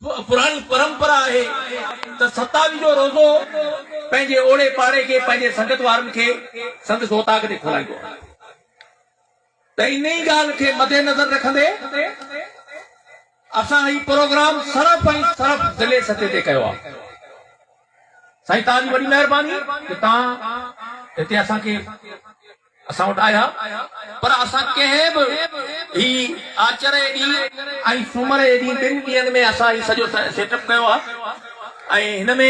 پراڻي پرمپرا آهي ته ستاوي جو روزو پنهنجي اوڙي پاڙي کي پنهنجي سنگت وارن کي سندس اوطاق تي کولائيندو آهي ته ان ئي ڳالهه کي مدنظر رکندي اسان هي پروگرام صرف ۽ صرف ضلعي سطح تي ڪيو آهي سائين توهان جي وڏي مهرباني جو توهان هتي اسان کي اسان وٽ آيا پر اسان ڪنهن به هي آچر جي ڏينهن ۽ سومر جي ڏينهن ٻن ڏينهن ۾ اسان هي سڄو سيٽ اپ ڪيو آهي ۽ هن ۾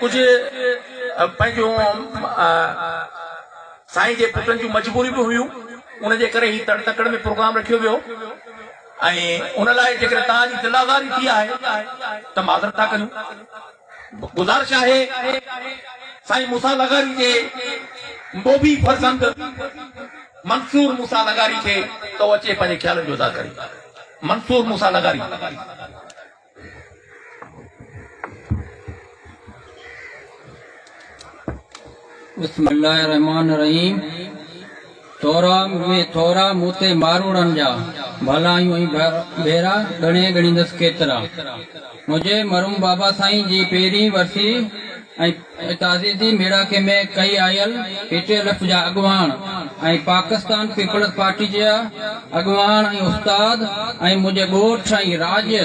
ڪجهه پنهنجون سائين جي پٽن جون مجبوريون به هيون ان جي ڪري هي تڙ تڪڙ ۾ پروگرام رکيو ويو ۽ ان لاء جيڪڏهن توهان جي دلازاري ٿي آهي ته معذرت ٿا ڪريون. گذارش آهي سائين موسيٰ لغاري جي موڀي فرزند منصور موسيٰ لغاري کي ته هو اچي پنهنجي خيالن جو اظهار ڪري. منصور موسيٰ لغاري. بسم الله الرحمٰن الرحيم ٿورا مي ٿورا مون تي ماروڙن جا ڀلايون ۽ ڀيرا ڳڻي ڳڻيندس ڪيترا منهنجي مرحوم بابا سائين جي پهرين ورسي ۽ تعزيتي ميڙاڪي ۾ ڪئي آيل پي ٽي ايلف جا اڳواڻ ۽ پاڪستان پيپلز پارٽي جا اڳواڻ ۽ استاد ۽ منهنجي ڳوٺ ۽ راڄ جا